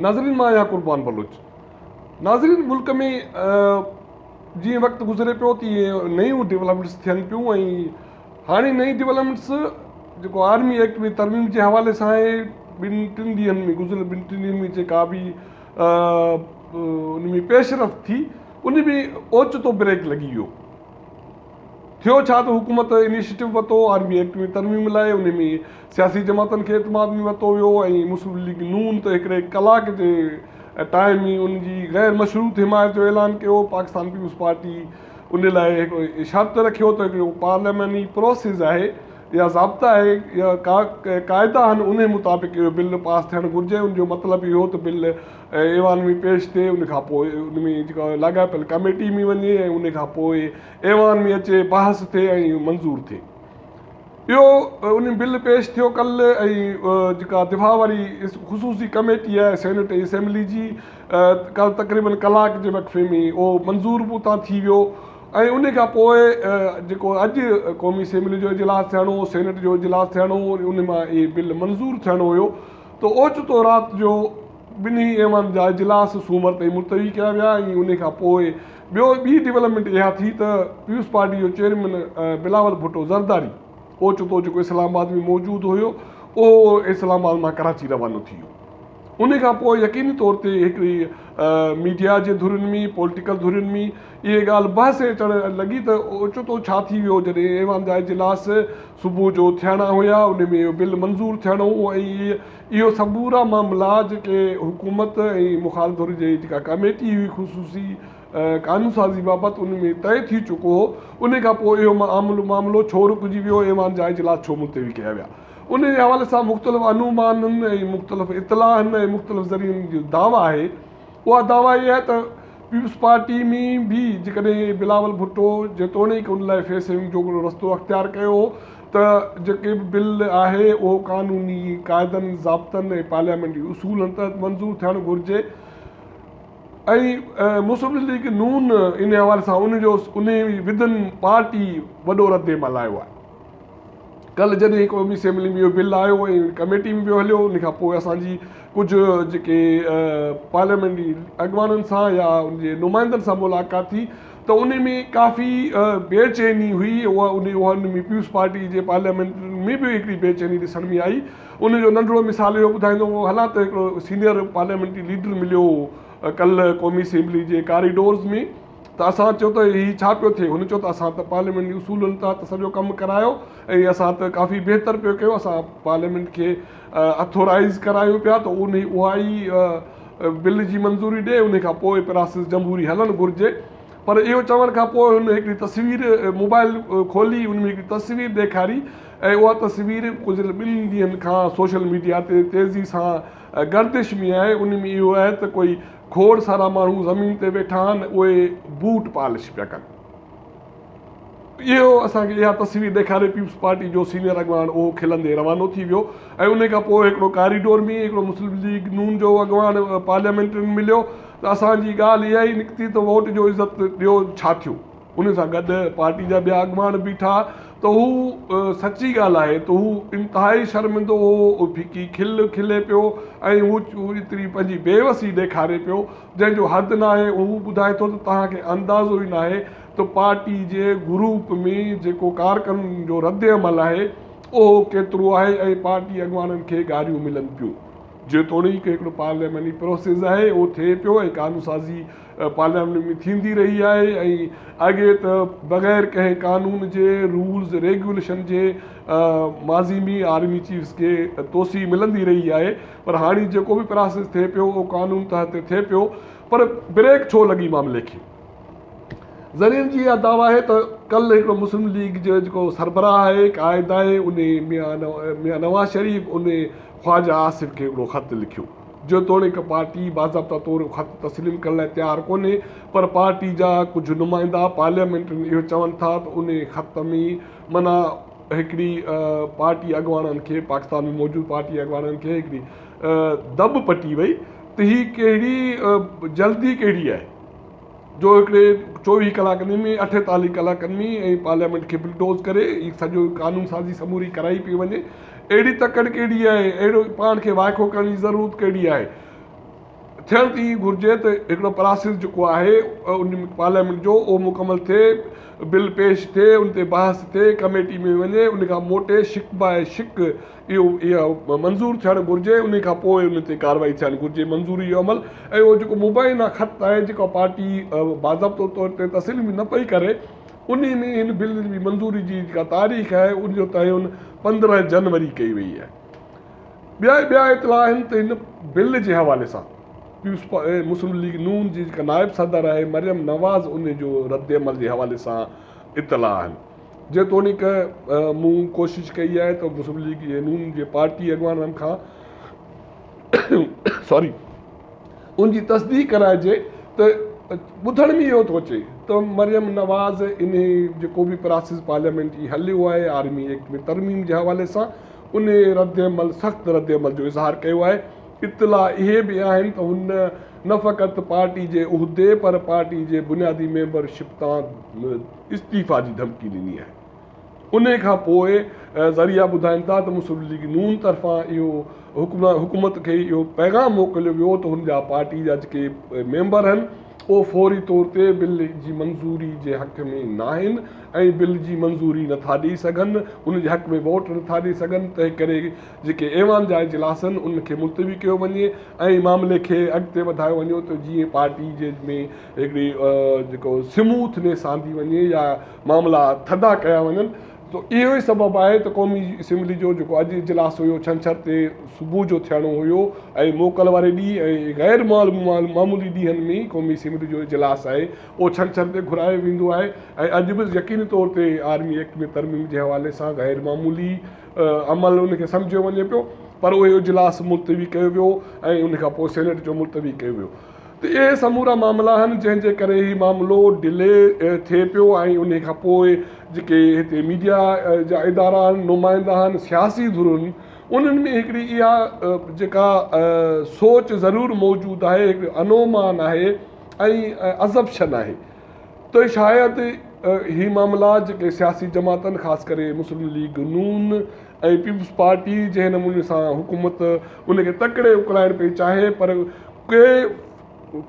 ناظرين مان آهيان قربان بلوچ. ناظرين ملڪ ۾ جيئن وقت گذري پيو تيئن نيون ڊولپمينٽس ٿين پيون ۽ هاڻي نئين ڊولپمينٽس جيڪو آرمي ايڪٽ ۾ ترميم جي حوالي سان آهي ٻن ٽن ڏينهن ۾ گذريل ٻن ٽن ڏينهن ۾ جيڪا به ان ۾ پيش رفت ٿي ان ۾ اوچتو بريڪ لڳي ويو ٿيو ڇا ته حڪومت انيشيٽو ورتو، آرمي ايڪٽ ۾ ترميم لاء، انهي ۾ سياسي جماعتن کي اعتماد ۾ ورتو ويو ۽ مسلم ليگ نون ته هڪڙي ڪلاڪ جي ٽائيم ئي ان جي غير مشروط حمايت جو اعلان ڪيو، پاڪستان پيپلز پارٽي انهي لاء هڪڙو شرط رکيو ته اهو پارلياماني پراسيس آهي يا ضابطا آهي يا قاعدا آهن انهي مطابق اهو بل پاس ٿيڻ گهرجي، ان جو مطلب اهو ته بل ۽ ايوان ۾ پيش ٿئي ان کان پوء ان ۾ جيڪا لاڳاپيل ڪاميٽي ۾ وڃي ۽ ان کان پوء ايوان ۾ اچي بحث ٿئي ۽ منظور ٿئي اهو ان بل پيش ٿيو ڪل ۽ جيڪا دفاع واري خصوصي ڪاميٽي آهي سينيٽ ۽ اسيمبلي جي ڪل تقريبن ڪلاڪ جي وقفي ۾ اهو منظور به اتان ٿي ويو ۽ ان کان پوء جيڪو اڄ قومي اسيمبلي جو اجلاس ٿيڻو هو سينيٽ جو اجلاس ٿيڻو هو ان مان اهي بل منظور ٿيڻو هيو ته اوچتو رات جو ٻنهي ايوان جا اجلاس سومر تائين ملتوي ڪيا ويا ۽ انهي کان پوء ٻيو ٻي ڊولپمينٽ اها ٿي ته پيپلز پارٽي جو چيئرمين بلاول ڀٽو زرداري اوچتو جيڪو اسلام آباد ۾ موجود هيو اهو اسلام آباد مان ڪراچي روانو ٿي ويو. انهي کان پوء يقيني طور تي هڪڙي ميڊيا جي ڌرين ۾ پوليٽيڪل ڌرين ۾. اهي ڳالهه بحث هيٺ اچڻ لڳي ته اوچتو ڇا ٿي ويو جڏهن ايوان جا اجلاس صبح جو ٿيڻا هيا انهي ۾ اهو بل منظور ٿيڻو هو ۽ اهي سمورا معاملا جيڪي حڪومت ۽ مخالف ڌر جي جيڪا ڪاميٽي هئي خصوصي قانون سازي بابت ان ۾ طئي ٿي چڪو هو انهي کان پوء اهو معاملو ڇو رڪجي ويو ايوان جا اجلاس ڇو ملتوي ڪيا ويا انهي جي حوالي سان مختلف انومانن ۽ مختلف اطلاعن ۽ مختلف ذريعن جو دعويٰ آهي اها دعويٰ اهي آهي ته پيپلز پارٽي ۾ به جيڪڏهن بلاول ڀٽو جيتوڻيڪ ان لاء فيس سيونگ جو هڪڙو رستو اختيار ڪيو هو ته جيڪي به بل آهي اهو قانوني قاعدن، ضابطن ۽ پارليامينٽري اصولن تحت منظور ٿيڻ گهرجي ۽ مسلم ليگ نون ان حوالي سان ان جو انهي وڌن پارٽي وڏو ردعمل آيو آهي. ڪلهه جڏهن قومي اسيمبلي ۾ اهو بل آيو ۽ ڪميٽي ۾ به هليو ان کان پوء اسان جي ڪجهه جيڪي پارليامينٽري اڳواڻن سان يا ان جي نمائندن سان ملاقات ٿي ته ان ۾ ڪافي بي چيني هئي اها ان ان ۾ پيپلز پارٽي جي پارليامينٽ ۾ به هڪڙي بي چيني ڏسڻ ۾ آئي ان جو ننڍڙو مثال اهو ٻڌائيندو هو هلان ته هڪڙو سينئر پارليامينٽري ليڊر مليو ڪلهه قومي اسيمبلي جي ڪاريڊورز ۾ ته اسان چيو ته هي ڇا پيو ٿئي؟ هن چيو ته اسان ته پارليامينٽ جي اصولن تحت سڄو ڪم ڪرايو ۽ اسان ته ڪافي بهتر پيو ڪيو اسان پارليامينٽ کي اٿورائيز ڪرايون پيا ته اها ئي بل جي منظوري ڏئي ان کان پوء پراسيس جمهوري هلڻ گهرجي پر اهو چوڻ کان پوء هن هڪڙي تصوير موبائل کولي ان ۾ هڪڙي تصوير ڏيکاري ۽ اها تصوير گذريل ٻن ڏينهن کان سوشل ميڊيا تي تيزي سان گردش ۾ آهي ان ۾ اهو آهي ته ڪوئي کوڙ سارا ماڻهو زمين تي ويٺا آهن اهي بوٽ پالش پيا ڪن. اهو اسان کي اها تصوير ڏيکاري پيپلز پارٽي جو سينيئر اڳواڻ اهو کلندي روانو ٿي ويو ۽ انهي کان پوء هڪڙو ڪاريڊور ۾ هڪڙو مسلم ليگ نون جو اڳواڻ پارليامينٽرين مليو ته اسان جي ڳالهه اها ئي نڪتي ته ووٽ جو عزت ڏيو ڇا ٿيو. ان سان گڏ پارٽي جا ٻيا اڳواڻ بيٺا ته هو سچي ڳالهائي ته هو انتهائي شرمندو هو، هو ڦڪي کل کلي پيو ۽ هو ايتري پنهنجي بي وسي ڏيکاري پيو جنهن جو حد ناهي، هو ٻڌائي ٿو ته توهان کي اندازو ئي ناهي ته پارٽي جي گروپ ۾ جيڪو ڪارڪنن جو رد عمل آهي اهو ڪيترو آهي ۽ پارٽي اڳواڻن کي گاريون ملن پيون. جيتوڻيڪ هڪڙو پارلياماني پروسيس آهي اهو ٿئي پيو ۽ قانونسازي پارليامينٽ ۾ ٿيندي رهي آهي ۽ اڳي ته بغير ڪنهن قانون جي رولز ريگيوليشن جي ماضي ۾ آرمي چيفز کي توسيع ملندي رهي آهي پر هاڻي جيڪو به پراسيس ٿئي پيو اهو قانون تحت تي ٿئي پيو پر بريڪ ڇو لڳي معاملي کي ذريعن جي اها دعويٰ آهي ته ڪل هڪڙو مسلم ليگ جو جيڪو سربراهه آهي قائد آهي ان ميان نواز شريف ان خواجه آصف کي هڪڙو خط لکيو جيتوڻيڪ پارٽي باضابطه طور اهو خط تسليم ڪرڻ لاء تيار ڪونهي پر پارٽي جا ڪجهه نمائندا پارليامينٽرين اهو چون ٿا ته انهي خط ۾ من هڪڙي پارٽي اڳواڻن کي پاڪستان ۾ موجود پارٽي اڳواڻن کي هڪڙي دٻ پٽي وئي ته هي ڪهڙي جلدي ڪهڙي آهي. جو هڪڙي چوويهه ڪلاڪن ۾ اٺيتاليهه ڪلاڪن ۾ ۽ پارليامينٽ کي بلڊوز ڪري هي سڄو قانون سازي سموري ڪرائي پئي وڃي اهڙي تڪڙ ڪهڙي آهي اهڙو پاڻ کي وائکو ڪرڻ جي ضرورت ڪهڙي آهي ٿيڻ ته ائين گهرجي ته هڪڙو پراسيس جيڪو آهي ان پارليامينٽ جو اهو مڪمل ٿئي بل پيش ٿئي ان تي بحث ٿئي ڪميٽي ۾ وڃي ان کان موٽي شڪ باء شڪ اهو اهو منظور ٿيڻ گهرجي انهي کان پوء ان تي ڪارروائي ٿيڻ گهرجي منظوري جو عمل ۽ اهو جيڪو مبينا خط آهي جيڪو پارٽي باضابطو طور تي تسليم نه پئي ڪري انهي ۾ ان بل جي منظوري جي جيڪا تاريخ آهي ان جو تعين پندرهن جنوري ڪئي وئي آهي ٻيا ٻيا اطلاع آهن ته ان بل جي حوالي سان مسلم ليگ نون جي جيڪا نائب صدر آهي مريم نواز ان جو رد عمل جي حوالي سان اطلاع آهن جيتوڻيڪ مون ڪوشش ڪئي آهي ته مسلم ليگ نون جي پارٽي اڳواڻن کان ان جي تصديق ڪرائجي ته ٻڌڻ ۾ اهو ٿو اچي ته مريم نواز انهي جيڪو به پراسيس پارليامينٽ جي هليو آهي آرمي ايڪٽ ۾ ترميم جي حوالي سان انهي رد عمل سخت رد عمل جو اظهار ڪيو آهي اطلاع اهي به آهن ته هن نه فقط پارٽي جي عهدي پر پارٽي جي بنيادي ميمبر شپ تان استعيفا جي ڌمڪي ڏني آهي انهي کان پوء ذريعا ٻڌائين ٿا ته مسلم ليگ نون طرفان اهو حڪومت کي اهو پيغام موڪليو ويو ته هن جا پارٽي جا جيڪي ميمبر آهن اهو فوري طور تي بل جي منظوري جي حق ۾ ناهن ۽ بل جي منظوري نٿا ڏئي سگهن ان جي حق ۾ ووٽ نٿا ڏئي سگهن تنهنڪري جيڪي ايوان جا اجلاس آهن انهن کي ملتوي ڪيو وڃي ۽ معاملي کي اڳتي وڌايو وڃو ته جيئن پارٽي جي ۾ هڪڙي جيڪو سموٿ نيس آندي وڃي يا معاملا ٿڌا ڪيا وڃن ته اهو ئي سبب آهي ته قومي اسيمبلي جو جيڪو اڄ اجلاس هيو ڇنڇر تي صبح جو ٿيڻو هيو ۽ موڪل واري ڏينهن ۽ غير معمولي ڏينهن ۾ ئي قومي اسيمبلي جو اجلاس آهي اهو ڇنڇر تي گهرايو ويندو آهي ۽ اڄ به يقيني طور تي آرمي ايڪٽ ۾ ترميم جي حوالي سان غير معمولي عمل ان کي سمجهيو وڃي پيو پر اهو اجلاس ملتوي ڪيو ويو ۽ ان کان پوء سينيٽ جو ملتوي ڪيو ويو ته اهي سمورا معاملا آهن جنهن جي ڪري هي معاملو ڊلي ٿئي پيو ۽ انهي کان پوء جيڪي هتي ميڊيا جا ادارا آهن نمائندا آهن سياسي ڌرون انهن ۾ هڪڙي اها جيڪا سوچ ضرور موجود آهي هڪڙي انومان آهي ۽ ازپشن آهي ته شايد هي معاملا جيڪي سياسي جماعتن خاص ڪري مسلم ليگ نون ۽ پيپلز پارٽي جنهن نموني سان حڪومت ان کي تڪڙي اڪلائڻ پئي چاهي پر ڪي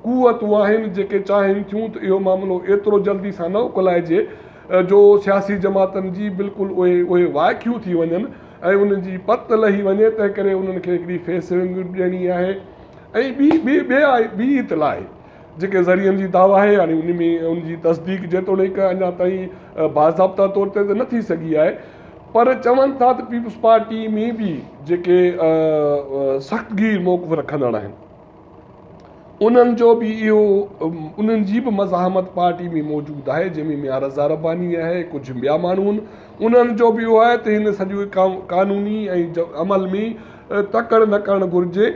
قوتون آهن جيڪي چاهين ٿيون ته اهو معاملو ايترو جلدي سان نه اڪلائجي جو سياسي جماعتن جي بلڪل اهي اهي وائکيون ٿي وڃن ۽ انهن جي پت لهي وڃي تنهن ڪري انهن کي هڪڙي فيس رنگ به ڏيڻي آهي ۽ ٻي ٻي ٻي آهي ٻي اطلاع آهي جيڪي ذريعن جي دعويٰ آهي يعني ان ۾ ان جي تصديق جيتوڻيڪ اڃا تائين باضابطا طور تي ته نه ٿي سگهي آهي پر چون ٿا ته پيپلز پارٽي ۾ به جيڪي سخت گير موقف رکندڙ آهن انهن جو به اهو انهن جي به مزاحمت پارٽي ۾ موجود آهي جنهن ۾ ميان رضا رباني آهي ڪجهه ٻيا ماڻهو آهن انهن جو به اهو آهي ته هن سڄو قانوني ۽ عمل ۾ تڪڙ نه ڪرڻ گهرجي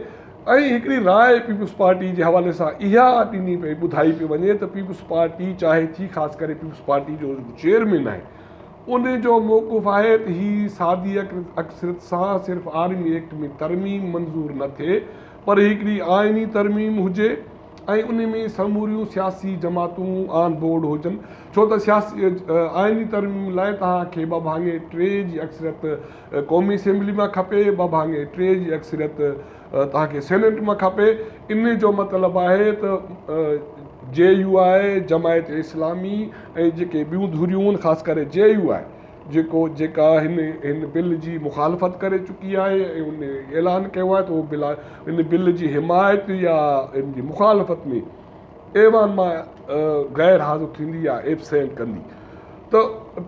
۽ هڪڙي راء پيپلز پارٽي جي حوالي سان اها ڏني پئي ٻڌائي پئي وڃي ته پيپلز پارٽي چاهي ٿي خاص ڪري پيپلز پارٽي جو چيئرمين آهي ان جو موقف آهي ته هي سادي اڪثريت سان صرف آرمي ايڪٽ ۾ ترميم منظور نه ٿئي پر هڪڙي آئيني ترميم هجي ۽ ان ۾ سموريون سياسي جماعتون آن بورڊ هجن ڇو ته سياسي آئيني ترميم لاء توهان کي ٻه ڀاڱي ٽي جي اڪثريت قومي اسيمبلي مان کپي ٻه ڀاڱي ٽي جي اڪثريت توهان کي سينيٽ مان کپي ان جو مطلب آهي ته جي يو آء جماعت اسلامي ۽ جيڪي ٻيون ڌريون خاص ڪري جي يو آء جيڪو جيڪا هن هن بل جي مخالفت ڪري چڪي آهي ۽ ان اعلان ڪيو آهي ته هو بل ان بل جي حمايت يا ان جي مخالفت ۾ ايوان مان غير حاضر ٿيندي يا ايبسينٽ ڪندي ته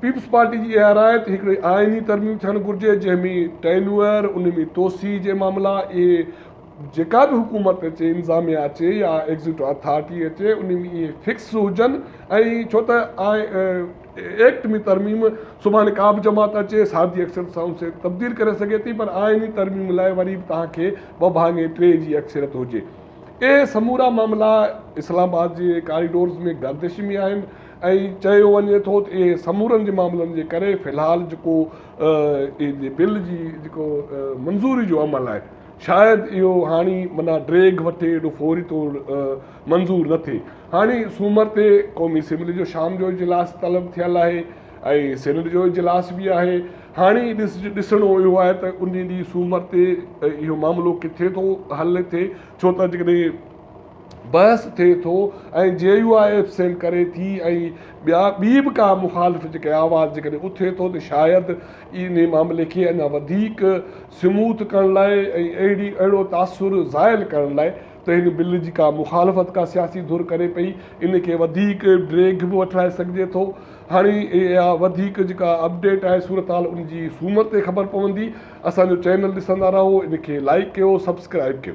پيپلز پارٽي جي اها راء ته هڪڙي آئيني ترميم ٿيڻ گهرجي جنهن ۾ ٽينيوئر ان ۾ توسيع جي معاملا اهي جيڪا به حڪومت اچي انظاميا اچي يا ايگزيٽو اٿارٽي اچي ان ۾ اهي فڪس هجن ۽ ڇو ته ايڪٽ ۾ ترميم سڀاڻي ڪا به جماعت اچي سادي اڪثريت سان اسي تبديل ڪري سگهي ٿي پر آئيني ترميم لاء وري به توهان کي ٻه ڀاڱي ٽي جي اڪثريت هجي اهي سمورا معاملا اسلام آباد جي ڪاريڊورز ۾ گردش ۾ آهن ۽ چيو وڃي ٿو ته اهي سمورن جي معاملن جي ڪري في الحال جيڪو جي بل جي جيڪو منظوري جو عمل آهي شايد اهو هاڻي منا ڊريگ وٺي ايڏو فوري طور منظور نه ٿئي هاڻي سومر تي قومي اسيمبلي جو شام جو اجلاس طلب ٿيل آهي ۽ سينيٽ جو اجلاس به آهي، هاڻي ڏسڻو اهو آهي ته ان ڏينهن سومر تي اهو معاملو ڪٿي ٿو حل ٿئي ڇو ته جيڪڏهن بحث ٿئي ٿو ۽ جي يو آء ايبسينٽ ڪري ٿي ۽ ٻيا ٻي به ڪا مخالف جيڪي آواز جيڪڏهن اٿي ٿو ته شايد ان معاملي کي اڃا وڌيڪ سموٿ ڪرڻ لاء ۽ اهڙي اهڙو تاثر زائل ڪرڻ لاء ته هن بل جي ڪا مخالفت ڪا سياسي ڌر ڪري پئي ان کي وڌيڪ ڊريگ به وٺرائي سگهجي ٿو هاڻي اها وڌيڪ جيڪا اپڊيٽ آهي صورتحال ان جي سومر تي خبر پوندي اسان جو چينل ڏسندا رهو ان کي لائيڪ ڪيو سبسڪرائيب ڪيو.